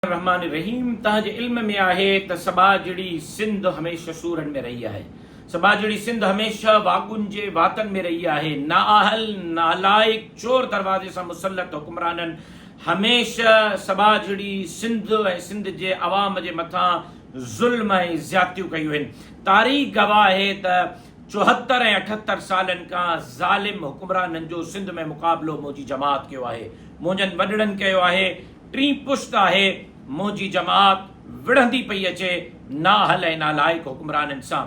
الرحمان الرحيم تنهن جي علم ۾ آهي ته سٻاجهڙي سنڌ هميشه سورن ۾ رهي آهي. سٻاجهڙي سنڌ هميشه واڳن جي واتن ۾ رهي آهي. نااهل، نالائق، چور دروازي سان مسلط حڪمرانن هميشه سٻاجهڙي سنڌ ۽ سنڌ جي عوام جي مٿان ظلم ۽ زيادتيون ڪيون آهن. تاريخ گواهه آهي ته چوهتر ۽ اٺهتر سالن کان ظالم حڪمرانن جو سنڌ ۾ مقابلو منهنجي جماعت ڪيو آهي. منهنجن وڏڙن ڪيو آهي. ٽين پشت آهي منهنجي جماعت وڙهندي پئي اچي نااهل ۽ نالائق حڪمرانن سان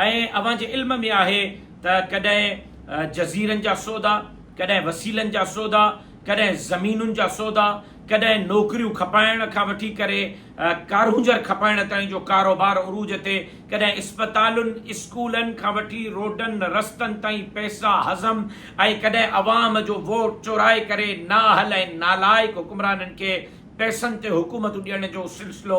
۽ اوهان جي علم ۾ آهي ته ڪڏهن جزيرن جا سودا ڪڏهن وسيلن جا سودا ڪڏهن زمينن جا سودا ڪڏهن نوڪريون کپائڻ کان وٺي ڪري ڪارونجهر کپائڻ تائين جو ڪاروبار عروج تي ڪڏهن اسپتالن، اسڪولن کان وٺي روڊن رستن تائين پئسا هضم ۽ ڪڏهن عوام جو ووٽ چورائي ڪري نااهل ۽ نالائق حڪمرانن کي پئسن تي حڪومتون ڏيڻ جو سلسلو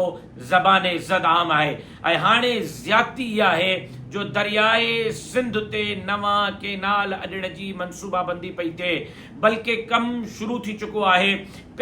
زبان زد عام آهي ۽ هاڻي زيادتي اها آهي جو دريائي سنڌ تي نوان ڪينال اڏڻ جي منصوبابندي پئي ٿئي بلڪه ڪم شروع ٿي چڪو آهي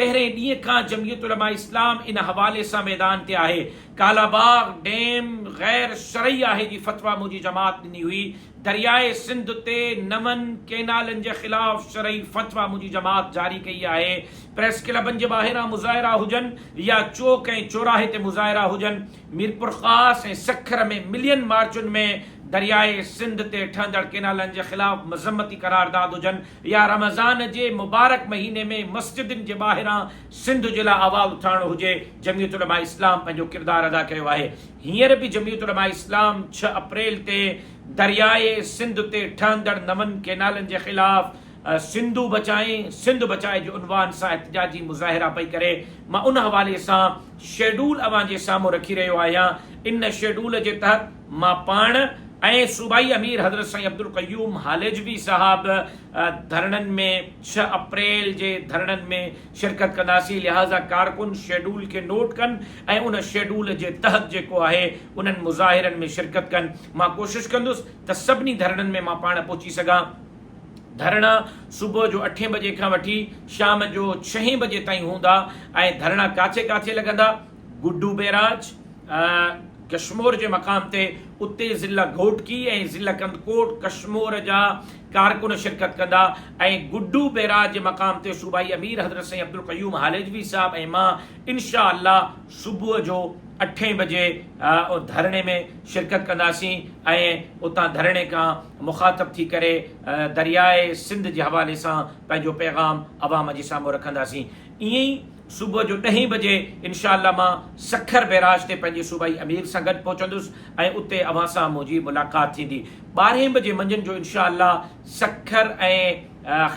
پهرين ڏينهن کان جمعيت علماء اسلام ان حوالي سان ميدان تي آهي. ڪالاباغ ڊيم غير شرعي آهي جي فتويٰ منهنجي جماعت ڏني هئي، درياء سنڌ تي نون ڪينالن جي خلاف شرعي فتويٰ منهنجي جماعت جاري ڪئي آهي، پريس ڪلبن جي ٻاهران مظاهرا هجن يا چوڪ ۽ چوراهي تي مظاهرا هجن، ميرپورخاص ۽ سکر ۾ ملين مارچن ۾ درياء سنڌ تي ٺهندڙ ڪينالن جي خلاف مذمتي قرارداد هجن يا رمضان جي مبارڪ مهيني ۾ مسجدن جي ٻاهران سنڌ جي لاء آواز اٿارڻو هجي، جمعيت علماء اسلام پنهنجو ڪردار ادا ڪيو آهي. هينئر به جمعيت علماء اسلام ڇهه اپريل تي درياهه سنڌ تي ٺهندڙ نون ڪينالن جي خلاف سنڌو بچائين، سنڌ بچائي جي عنوان سان احتجاجي مظاهرا پئي ڪري. مان ان حوالي سان شيڊول اوهان جي سامهون رکي رهيو آهيان. ان شيڊول جي تحت. مان پاڻ ۽ صوبائي امير حضرت سائين عبدالقيوم هاليجوي صاحب ڌرڻن ۾ ڇهه اپريل جي ڌرڻن ۾ شرڪت ڪنداسين لهٰذا ڪارڪن شيڊول کي نوٽ ڪن ۽ ان شيڊول جي تحت جيڪو آهي انهن مظاهرن ۾ شرڪت ڪن مان ڪوشش ڪندس ته سڀني ڌرڻن ۾ مان پاڻ پهچي سگهان ڌرڻا صبح جو اٺين بجي کان وٺي شام جو ڇهين بجي تائين هوندا ۽ ڌرڻا ڪاٿي ڪاٿي لڳندا؟ گڊو بئراج ڪشمور جي مقام تي اتي ضلع گهوٽڪي ۽ ضلع ڪنڌڪوٽ ڪشمور جا ڪارڪن شرڪت ڪندا ۽ گڊو بئراج جي مقام تي صوبائي امير حضرت سائين عبدالقيوم هاليجوي صاحب ۽ مان انشاء الله صبح جو اٺين بجي ڌرڻي ۾ شرڪت ڪنداسين ۽ اتان ڌرڻي کان مخاطب ٿي ڪري درياء سنڌ جي حوالي سان پنهنجو پيغام عوام جي سامهون رکنداسين ائين ئي صبح جو ڏهين بجي انشاء الله مان سکر بئراج تي پنهنجي صوبائي امير سان گڏ پهچندس ۽ اتي اوهان سان منهنجي ملاقات ٿيندي. ٻارهين بجي منجهند جو انشاء الله سکر ۽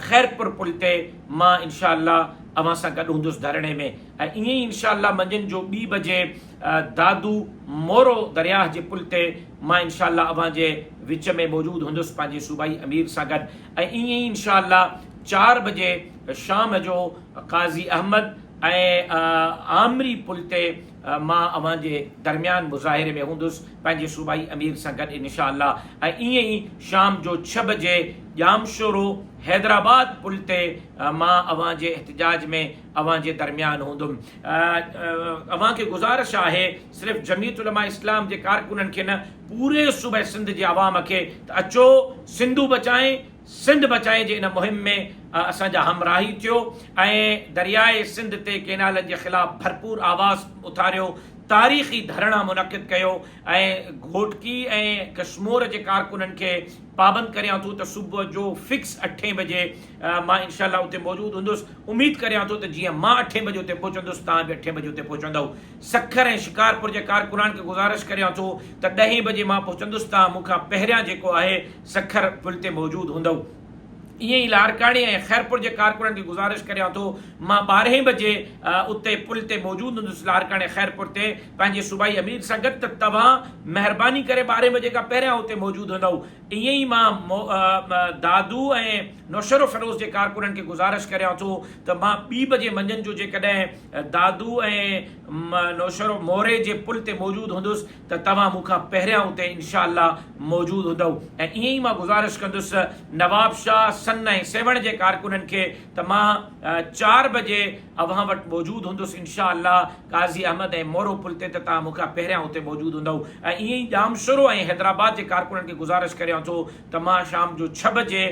خيرپور پل تي مان انشاء الله اوهان سان گڏ هوندس ڌرڻي ۾ ۽ ائين ئي انشاء الله منجهند جو ٻي بجي دادو مورو درياهه جي پل تي مان انشاء الله اوهان جي وچ ۾ موجود هوندس پنهنجي صوبائي امير سان گڏ ۽ ائين ئي انشاء الله چار بجي شام جو قاضي احمد ۽ آمري پل تي مان اوهان جي درميان مظاهري ۾ هوندس پنهنجي صوبائي امير سان گڏ انشاء الله ۽ ائين ئي شام جو ڇهه بجي ڄامشورو حيدرآباد پل تي مان اوهان جي احتجاج ۾ اوهان جي درميان هوندم اوهان کي گذارش آهي صرف جميعت علماء اسلام جي ڪارڪنن کي نه پوري صوبه سنڌ جي عوام کي ته اچو سنڌو بچائين سنڌ بچائي جي ان مهم ۾ اسان جا همراهي ٿيو ۽ درياء سنڌ تي ڪينالن جي خلاف ڀرپور آواز اٿاريو، تاريخي ڌرڻا منعقد ڪيو ۽ گهوٽڪي ۽ ڪشمور جي ڪارڪنن کي پابند ڪريان ٿو ته صبح جو فڪس اٺين بجي مان انشاء الله اتي موجود هوندس، اميد ڪريان ٿو ته جيئن مان اٺين بجي اتي پهچندس توهان به اٺين بجي اتي پهچندؤ. سکر ۽ شڪارپور جي ڪارڪنان کي گذارش ڪريان ٿو ته ڏهين بجي مان پهچندس تان مون کان پهريان جيڪو آهي سکر پل تي موجود هوندئو. ائين ئي لاڙڪاڻي ۽ خيرپور جي ڪارڪنن کي گذارش ڪريان ٿو مان ٻارهين بجي اتي پل تي موجود هوندس لاڙڪاڻي خيرپور تي پنهنجي صوبائي امير سان گڏ ته توهان مهرباني ڪري ٻارهين بجي کان پهريان اتي موجود هوندئو ائين ئي مان دادو ۽ نوشهرو فيروز جي ڪارڪنن کي گذارش ڪريان ٿو ته مان ٻي بجي منجهند جو جيڪڏهن دادو ۽ نوشهرو موري جي پل تي موجود هوندس ته توهان مون کان پهريان اتي انشاء الله موجود هوندئو ۽ ائين ئي مان گذارش ڪندس نواب شاهه سن ۽ سيوهڻ جي ڪارڪنن کي ته مان چار بجي اوهان وٽ موجود هوندس انشاء الله قاضي احمد ۽ مورو پل تي ته توهان مون کان پهريان اتي موجود هوندئو ۽ ائين ئي ڄامشورو ۽ حيدرآباد جي ڪارڪنن کي گذارش ڪريان ٿو ته مان شام جو ڇهه بجي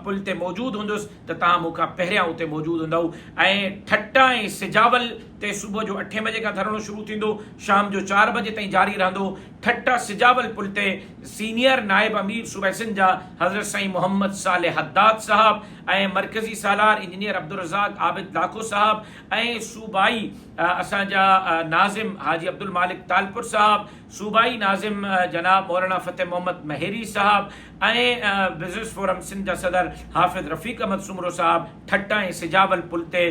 پل تي موجود هوندس ته توهان مون کان پهريان اتي موجود هوندؤ ۽ ٺٽه ۽ سجاول تي صبح جو اٺين بجي کان ڌرڻو شروع ٿيندو شام جو چار بجي تائين جاري رهندو ٺٽه سجاول پل تي سينيئر نائب امير صوبه سنڌ جا حضرت سائين محمد صالح حداد صاحب ۽ مرڪزي سالار انجنيئر عبدالرزاق عابد لاکو صاحب ۽ صوبائي اسان جا ناظم حاجي عبدالمالڪ ٽالپر صاحب صوبائي ناظم جناب مولانا فتح محمد مهيري صاحب ۽ بزنس فورم سنڌ جا صدر حافظ رفيق احمد سومرو صاحب ٺٽه ۽ سجاول پل تي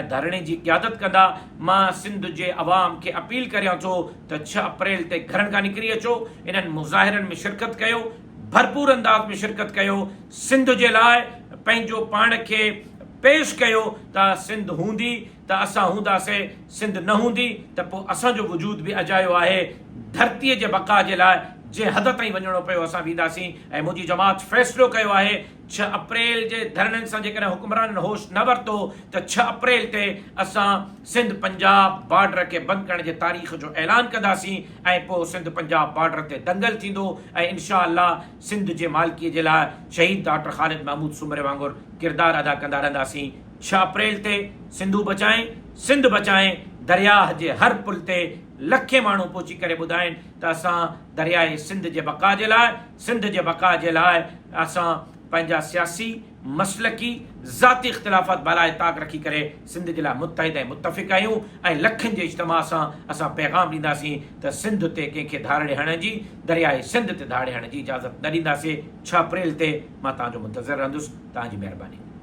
ڌرڻي جي قيادت ڪندا. مان سنڌ جي عوام کي اپيل ڪريان ٿو ته ڇهه اپريل تي گهرن کان نڪري اچو، انهن مظاهرن ۾ شرڪت ڪيو، ڀرپور انداز ۾ شرڪت ڪيو، سنڌ جي لاء پنهنجو پاڻ کي پيش ڪيو ته سنڌ هوندي، ته اسان هونداسين، سنڌ نه هوندي ته پوء اسان جو وجود به اجايو آهي، ڌرتيء جي بقا جي لاء جنهن حد تائين وڃڻو پيو اسان وينداسين ۽ منهنجي جماعت فيصلو ڪيو آهي ڇهه اپريل جي ڌرڻن سان جيڪڏهن حڪمرانن هوش نه ورتو ته ڇهه اپريل تي اسان سنڌ پنجاب بارڊر کي بند ڪرڻ جي تاريخ جو اعلان ڪنداسين ۽ پوء سنڌ پنجاب بارڊر تي دنگل ٿيندو ۽ انشاء الله سنڌ جي مالڪي جي لاء شهيد ڊاڪٽر خالد محمود سومري وانگر ڪردار ادا ڪندا رهنداسين ڇهه اپريل تي سنڌو بچائين سنڌ بچائين درياهه جي هر پل تي لکين ماڻهو پهچي ڪري ٻڌائين ته اسان درياهه سنڌ جي بقا جي لاء سنڌ جي بقا جي لاء اسان پنهنجا سياسي، مسلڪي، ذاتي اختلافات بالائ طاق رکي ڪري سنڌ جي لاء متحد ۽ متفق آهيون ۽ لکن جي اجتماع سان اسان پيغام ڏينداسين ته سنڌ تي ڪنهن کي ڌاڙڙي هڻڻ جي درياهه سنڌ تي ڌاڙي هڻڻ جي اجازت نه ڏينداسين ڇهه اپريل تي مان توهان جو منتظر رهندس توهان جي مهرباني.